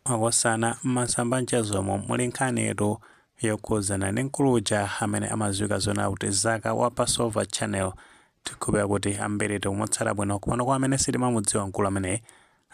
Makosana m'masamba a mchezomo muli nkhanitu yokhudzana ndi mkulu uja amene amadziwika zonena kuti Zaka wa Passover Channel. Tikhulupira kuti ambiri timamutsata bwino komano kwa amene sitimamudziwa mkulu ameneyu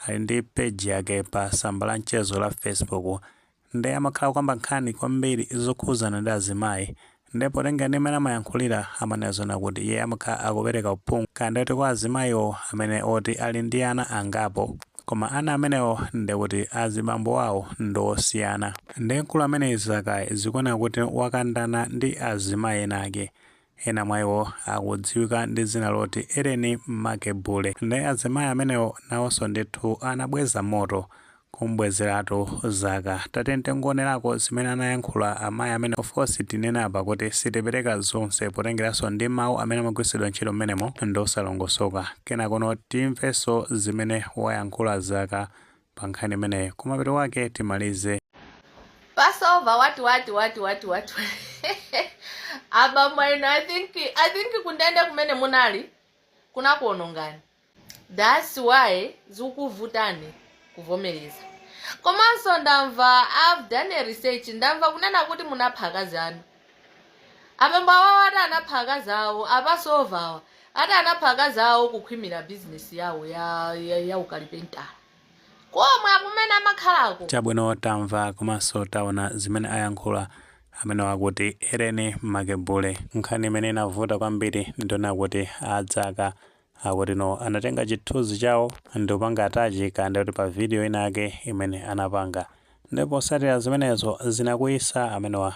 ali ndi page yake pa tsamba la mchezo la Facebook nde amakhala kukamba nkhani kwambiri zokhuzana ndi azimayi nde potengera ndi mmene amayankhulira amanena zonena kuti iye amakhala akupereka uphungu kaya ndikuti kwa azimayiwo amene oti ali ndi ana angapo koma ana amenewo ndekuti azibambo wawo ndi osiyana nde mkulu ameneyi Zakayi zikuoneka kuti wakandana ndi azimayi enaake Ena mwa iwo akudziwika ndi dzina loti Ellen Makebule. Nde azimayi amenewo nawonso ndithu anabweza moto. Kum'bwezeratu Zaka. Tatiyeni tingowonerako zimene anayankhula amayi amenewo. Of course tinene apa kuti sitipereka zonse potengeranso ndi mawu amene amagwiritsidwa ntchito m'menemo ndi osalongosoka. Kenakono timvenso zimene wayankhula Zaka pa nkhani imeneyi kumapeto kwake timalize. Passover what what what what what abambo inu I think I think kundende kumene munali kunakuonongani that's why zikuvutani kuvomereza komanso ndamva I've done a research ndamva kunena kuti munapha akazi anu Abambo awawa ati anapha akazi awo a Passover awa ati anapha akazi awo kukhwimira business yawo ya ya, ya ukalipentala komwe akumene amakhalako. Chabwino tamva komanso taona zimene ayankhula amenewa akuti Ellen Makebule. Nkhani imene inavuta kwambiri ndi yonena kuti a Zaka Akuti anatenga chithunzi chawo ndikupanga attach kaya ndikuti pa video ina yake imene anapanga nde posatira zimenezo zinakwiyitsa amenewa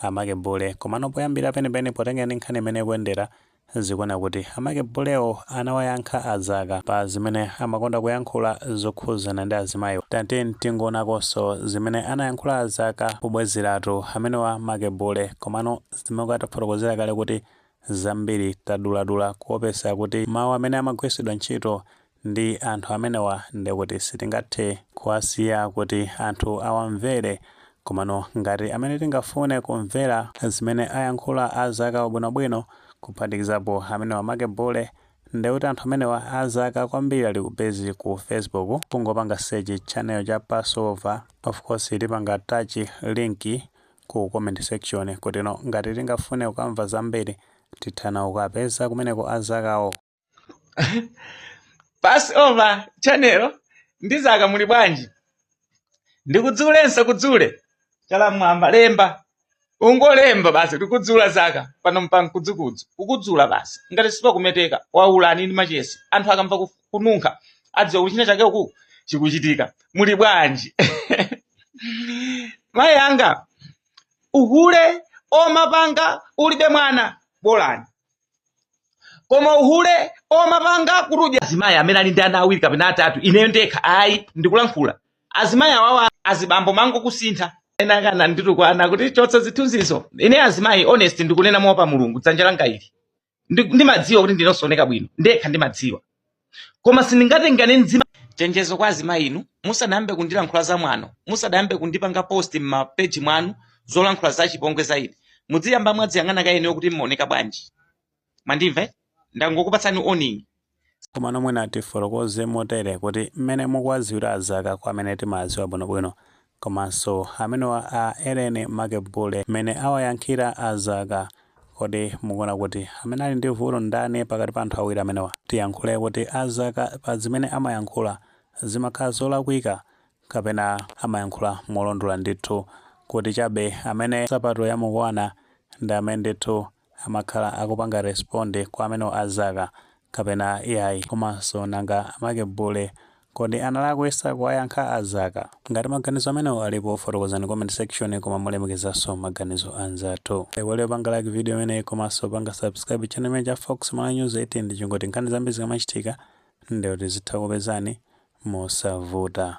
a Makebule komano poyambira penipeni potengera ndi nkhani imene ikuendera zikuoneka kuti a Makebulewo anawayankha a Zaka pa zimene amakonda kuyankhula zokhuzana ndi azimayiwa tatiyeni tingoonakonso zimene anayankhula a Zaka pobwezeratu amenewa Makebule komano mmene tafotokozera kale kuti zambiri taduladula kuopesa kuti mawu amene amagwiritsidwa ntchito ndi anthu amenewa ndekuti sitingathe kuwasiya kuti anthu awamvere komano ngati amene tingafune kumvera zimene ayankhula a Zaka bwinobwino kuphatikizapo amenewa Makebule ndekuti anthu amenewa a Zaka kwambiri ali busy ku facebook kungopanga search channel cha passover of course tipanga attach link ku comment section kutino ngati tingafune kukamva zambiri tithana kukapeza kumeneko a Zakawo Passover channel ndi Zaka muli bwanji ndikudzulenso kudzule chala mwamba lemba ungolemba basi tikudzula Zaka pano mpankudzukudzu kukudzula basi ngati sipakumeteka waulani ndi machesi anthu akamva kufu kununkha adziwe kuti china chake uku chikuchitika muli bwanji amayi anga uhule omapanga ulibe mwana bolani koma uhule omapanga kuti udye azimayi amene ali ndi ana awiri kapena atatu ineyo ndekha ayi ndikulankhula azimayi awawa azibambo mango kusintha ena akumanditukwana kuti chotsa zithunzizo ine azimayi honest ndikunena moopa mulungu dzanja langa ili Ndi- ndimadziwa kuti ndine osaoneka bwino ndekha ndimadziwa koma sindingatengane nzimai chenjezo kwa azimayi inu musadayambe kundilankhula za mwano musadayambe kundipanga post m'mapeji mwanu zolankhula za chipongwe za ine mudziyamba mwadziyang'ana kaye inuyo kuti mmaoneka bwanji mwandimva eh? ndangokupatsani warning Komano mwina tifotokoze motere kuti mmene mukuwaziwira azaka kwa amene timawaziwa bwino bwino komanso amenewa a Ellen amake Bule mmene awayankhira azaka kodi mukuona kuti amene ali ndi vuto ndani pakati pa anthu awiri amenewa tiyankhule kuti azaka pazimene amayankhula zimakhala zolakwika kapena amayankhula molondola ndithu kuti chabe amene nsapato yamukwana ndi amene ndithu amakhala akupanga respond kwa amenewo azaka kapena iyayi komanso nanga amake bule kodi analakwisa kuwayankha azaka? Ngati maganizo amenewo alipo fotokozani comment section koma molemekezaso maganizo anzathu. Osaiwala kupanga like video imeneyi komanso kupanga subscribe channel imeneyi cha Fox Malawi News 18 ndi cholinga choti nkhani zambiri zikamachitika ndekuti zizitha kukupezani mosavuta.